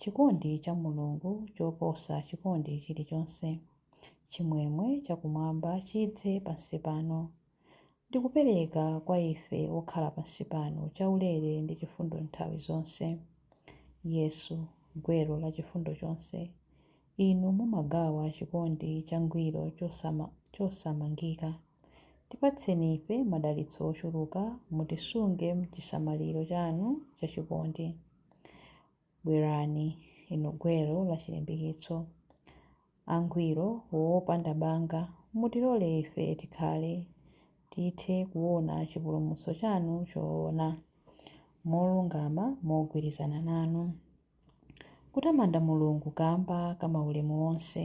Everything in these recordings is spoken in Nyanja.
Chikondi cha Mulungu choposa chikondi chilichonse. Chimwemwe chakumwamba chidze pansi pano, ndi kupereka kwa ife okhala pansi pano chaulere ndi chifundo nthawi zonse. Yesu, gwero la chifundo chonse, Inu mumagawa chikondi changwiro chosamangika. Tipatseni ife madalitso ochuluka, mutisunge m'chisamaliro chanu chachikondi. Bwerani, Inu Gwero la chilimbikitso, Angwiro wopanda banga, Mutilole ife tikhale, Tithe kuona chipulumutso chanu choona, Molungama mogwirizana nanu. Kutamanda Mulungu kamba ka maulemu onse,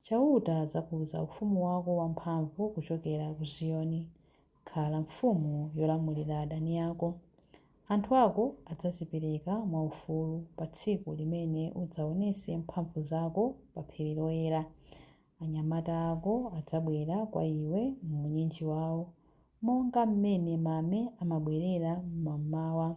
Chauta adzakuza ufumu wako wamphamvu kuchokera ku Ziyoni. Khala mfumu yolamulira adani ako. Anthu ako adzazipereka mwaufulu pa tsiku limene udzaonese mphamvu zako pa phiri loyera. Anyamata ako adzabwera kwa iwe m'unyinji wao, monga m'mene mame amabwerera m'mamawa.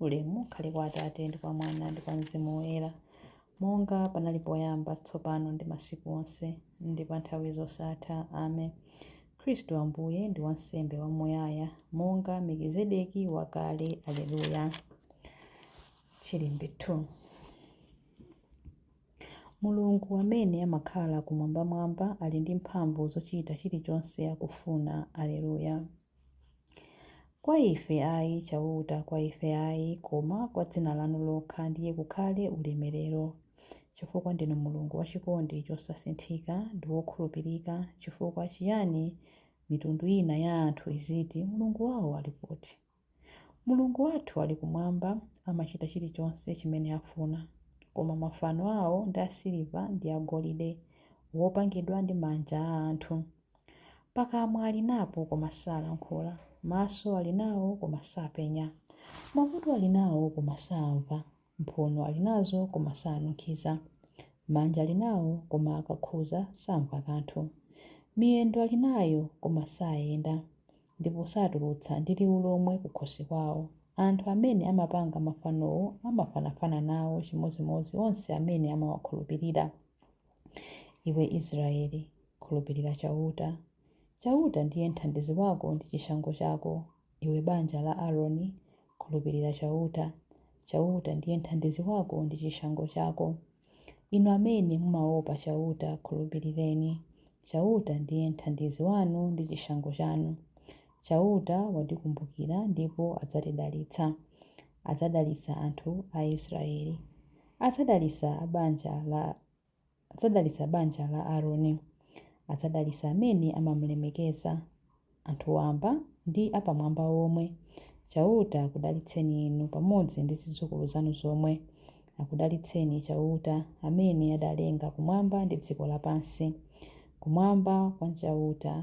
Ulemu ukhale kwa Atate, ndi kwa Mwana, ndi kwa Mzimu Woyera, monga panali poyamba, tsopano, ndi masiku onse, ndi pa nthawi zosatha. Amen. Khristu Ambuye ndi wansembe wamuyaya, monga Melkizedeki wakale. Aleluya. Chilimbi 2 Mulungu amene amakhala kumwambamwamba ali ndi mphamvu zochita chilichonse akufuna. Aleluya. Kwa ife ayi, Chauta, kwa ife ayi, koma kwa dzina lanu lokha ndiye kukhale ulemerero, chifukwa ndinu Mulungu wa chikondi chosasinthika ndi wokhulupirika, chifukwa chiyani mitundu ina ya anthu iziti, Mulungu wao ali kuti? Mulungu wathu ali kumwamba, amachita chilichonse chimene afuna. Koma mafano ao ndi asiliva ndi agolide, wopangidwa ndi manja a anthu. Pakamwa ali napo koma salankhula, maso ali nawo koma sapenya, makutu ali nawo koma saamva, mphuno ali nazo koma sanunkhiza, manja ali nawo koma akakhuza samva kanthu, miyendo ali nayo koma sayenda, ndipo satulutsa ndi liwu lomwe kukhosi kwawo. Anthu amene amapanga mafanowo amafanafana nawo chimodzimodzi onse amene amawakhulupirira. Iwe Israeli, khulupirira Chauta. Chauta ndiye mthandizi wako ndi chishango chako. Iwe banja la Aroni, khulupirira Chauta. Chauta ndiye mthandizi wako ndi chishango chako. Inu amene mumaopa Chauta, khulupirireni. Chauta ndiye mthandizi wanu ndi chishango chanu. Chauta watikumbukira ndipo adzatidalitsa. Adzadalitsa anthu a Israeli. Adzadalitsa banja la Adzadalitsa banja la Aroni. Adzadalitsa amene amamulemekeza, anthu wamba ndi apamwamba omwe. Chauta akudalitseni inu pamodzi ndi zidzukulu zanu zomwe. Akudalitseni Chauta, amene adalenga kumwamba ndi dziko lapansi. Kumwamba nkwa Chauta,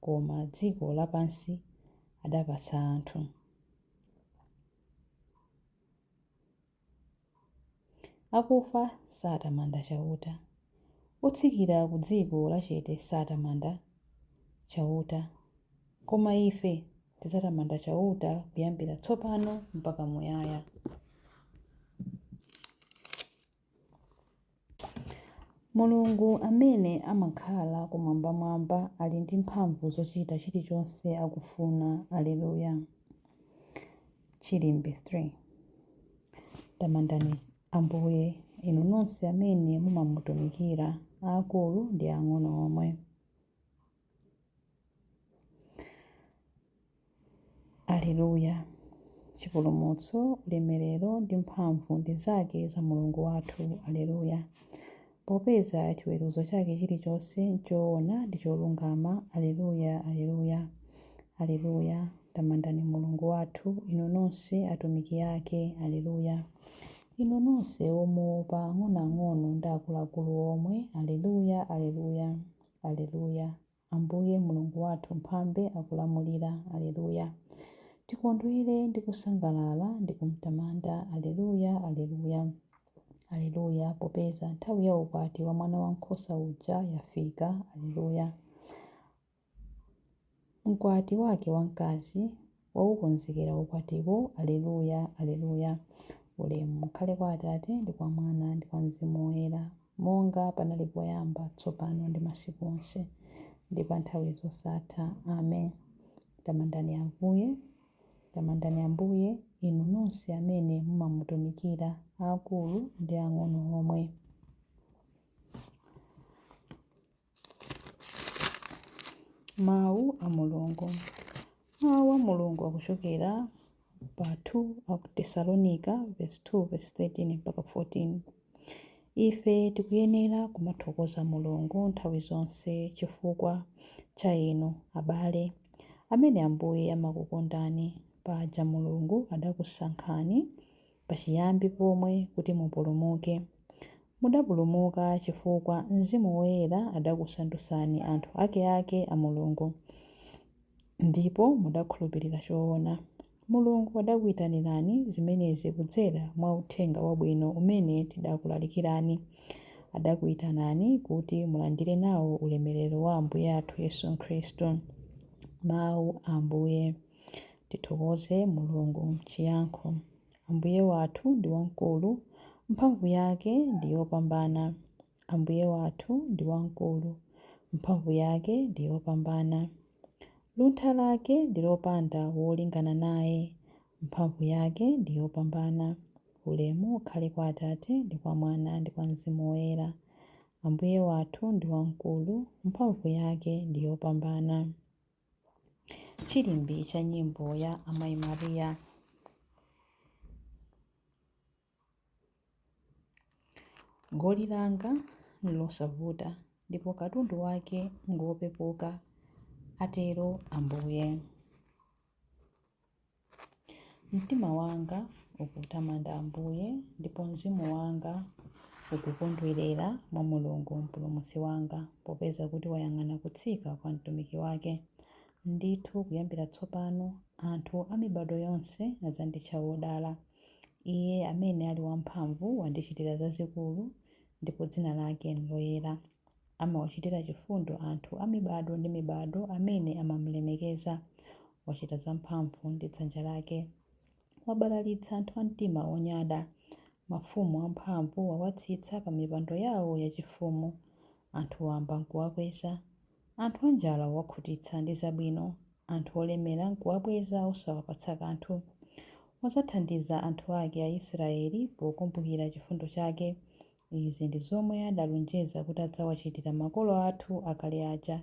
koma dziko lapansi adapatsa anthu. Akufa satamanda Chauta. Otsikira ku dziko lachete satamanda Chauta. Koma ife tidzatamanda Chauta kuyambira tsopano mpaka muyaya. Mulungu amene amakhala Kumwambamwamba ali ndi mphamvu zochita chilichonse akufuna. Aleluya! Chilimbi 3 Tamandani Ambuye, inu nonse amene mumamutumikira, aakulu ndi ang'ono omwe. Aleluya! Chipulumutso, ulemerero ndi mphamvu ndi zake za Mulungu wathu. Aleluya! Popeza chiweruzo chake chilichonse nchoona ndi cholungama. Aleluya, aleluya, aleluya! Tamandani Mulungu wathu, inu nonse atumiki ake. Aleluya! Inu nonse omuopa, ang'onoang'ono ndi akuluakulu omwe. Aleluya, aleluya! Aleluya! Ambuye, Mulungu wathu Mphambe akulamulira. Aleluya! Tikondwere ndi kusangalala ndi kumtamanda. Aleluya! Aleluya! Aleluya! Popeza nthawi ya ukwati wa Mwanawankhosa uja yafika. Aleluya! Mkwati Wake wamkazi, waukonzekera ukwatiwo! Aleluya! Aleluya! Ulemu ukhale kwa Atate, ndi kwa Mwana, ndi kwa Mzimu Woyera, monga panali poyamba, tsopano, ndi masiku onse, ndi pa nthawi zosatha. Amen. Tamandani Ambuye. Tamandani Ambuye, inu nonse amene mumamutumikira, aakulu ndi ang'ono omwe. Mawu a Mulungu Mawu a Mulungu akuchokera pa 2 Aku Tesalonika vesi 2 vesi 13 mpaka 14 Ife tikuyenera kumathokoza Mulungu nthawi zonse chifukwa cha inu, abale, amene Ambuye amakukondani, paja Mulungu adakusankhani pachiyambi pomwe kuti mupulumuke. Mudapulumuka chifukwa Mzimu Woyera adakusandutsani anthu akeake a Mulungu, ndipo mudakhulupilira choona. Mulungu adakuitanirani zimenezi kudzera mwa Uthenga Wabwino umene tidakulalikirani. Adakuitanani kuti mulandire nao ulemerero wa Ambuye athu Yesu Khristu. Mau a Ambuye. Tithokoze Mulungu. Chiyankho Ambuye wathu ndi wamkulu, mphamvu yake ndi yopambana. Ambuye wathu ndi wamkulu, mphamvu yake ndi yopambana. Luntha lake ndi lopanda wolingana naye, mphamvu yake ndi yopambana. Ulemu ukhale kwa Atate, ndi kwa Mwana, ndi kwa Mzimu Woyera. Ambuye wathu ndi wamkulu, mphamvu yake ndi yopambana. Chilimbi cha nyimbo ya Amayi Maria. Goli langa n'losavuta ndipo katundu wake ngopepuka, atero Ambuye. Mtima wanga ukutamanda Ambuye, ndipo mzimu wanga ukukondwerera mwa Mulungu Mpulumutsi wanga, popeza kuti wayang'ana kutsika kwa mtumiki wake. Ndithu kuyambira tsopano anthu a mibado yonse adzanditcha wodala. Iye amene ali wamphamvu wandichitira zazikulu, ndipo dzina lake n'loyera. Amawachitira chifundo anthu a mibado ndi mibado amene amam'lemekeza. Wachita zamphamvu ndi dzanja lake. Wabalalitsa anthu a mtima wonyada. Mafumu amphamvu wawatsitsa pamipando yawo yachifumu. Anthu wamba n'kuwakweza. Anthu anjala wawakhutitsa ndi zabwino. Anthu olemera n'kuwabweza osawapatsa kanthu. Wadzathandiza anthu ake Aisiraeli pokumbukira chifundo chake. Izi ndi zomwe adalonjeza kuti adzawachitira makolo athu akale aja.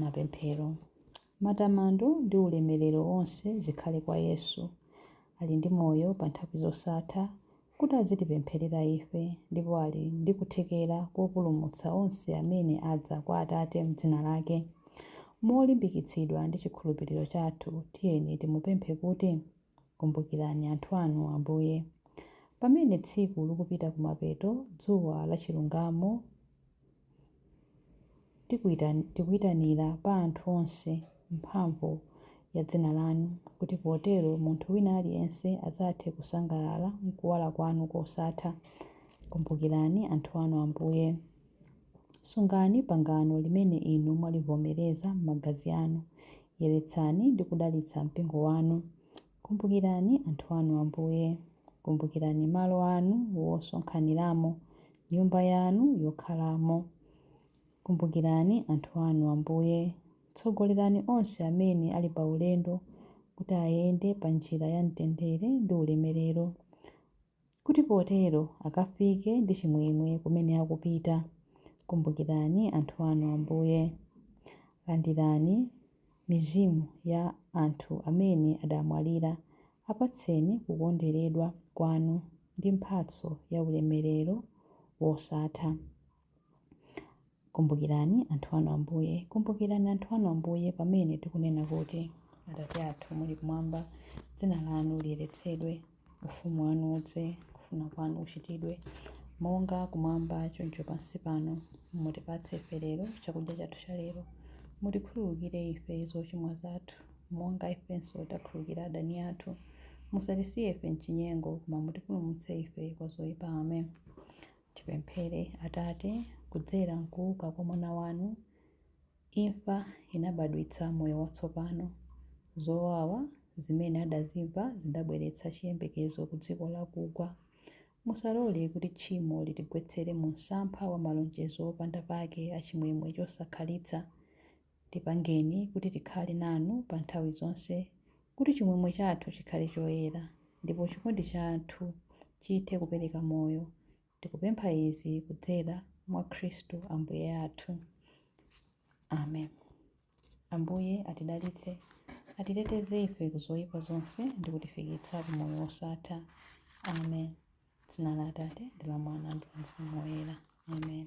Mapemphero. Matamando ndi ulemerero wonse zikhale kwa Yesu. Ali ndi moyo pa nthawi zosatha kuti azitipempherera ife ndipo ali ndi kuthekera kopulumutsa onse amene adza kwa Atate m'dzina lake. Molimbikitsidwa ndi chikhulupiriro chathu, tiyeni timupemphe kuti. Kumbukirani anthu anu, Ambuye. Pamene tsiku likupita kumapeto, dzuwa la chilungamo, tikuitanira pa anthu onse mphamvu ya dzina lanu, kuti potero munthu wina aliyense adzathe kusangalala m'kuwala kwanu kosatha. Kumbukirani anthu anu, Ambuye. Sungani pangano limene inu mwalivomereza m'magazi anu. Yeretsani ndi kudalitsa mpingo wanu. Kumbukirani anthu anu, Ambuye. Kumbukirani malo anu wosonkhaniramo, nyumba yanu yokhalamo. Kumbukirani anthu anu, Ambuye. Tsogolerani onse amene ali paulendo kuti ayende panjira ya mtendere ndi ulemerero. kuti potero akafike ndi chimwemwe kumene akupita. Kumbukirani anthu anu, Ambuye. Landirani mizimu ya anthu amene adamwalira. Apatseni kukonderedwa kwanu ndi mphatso ya ulemerero wosatha. Kumbukirani anthu anu Ambuye, kumbukirani anthu anu Ambuye pamene tikunena kuti, Atate athu muli kumwamba, dzina lanu liyeretsedwe, ufumu wanu udze, kufuna kwanu kuchitidwe, monga kumwamba choncho pansi pano. Mutipatse ife lero chakudya chathu cha lero. Mutikhululukire ife zochimwa zathu, monga ifenso takhululukira adani athu. Musatisiye ife mchinyengo, koma mutipulumutse ife kwa zoipa. Amen. Tipemphere. Atate, kudzera m'kuuka kwa Mwana wanu, imfa inabadwitsa moyo watsopano. Zowawa zimene adazimva zidabweretsa chiyembekezo ku dziko lakugwa. Musalole kuti tchimo litigwetsere mu msampha wa malonjezo opanda pake a chimwemwe chosakhalitsa. Tipangeni kuti tikhale nanu pa nthawi zonse, kuti chimwemwe chathu chikhale choyera, ndipo chikondi chathu chithe kupereka moyo. Tikupempha izi kudzera mwa Khristu Ambuye athu. Amen. Ambuye atidalitse, atiteteze ife ku zoyipa zonse ndi kutifikitsa ku moyo wosatha. Amen. Dzina la Atate, ndi la Mwana, ndi la Mzimu Woyera. Amen.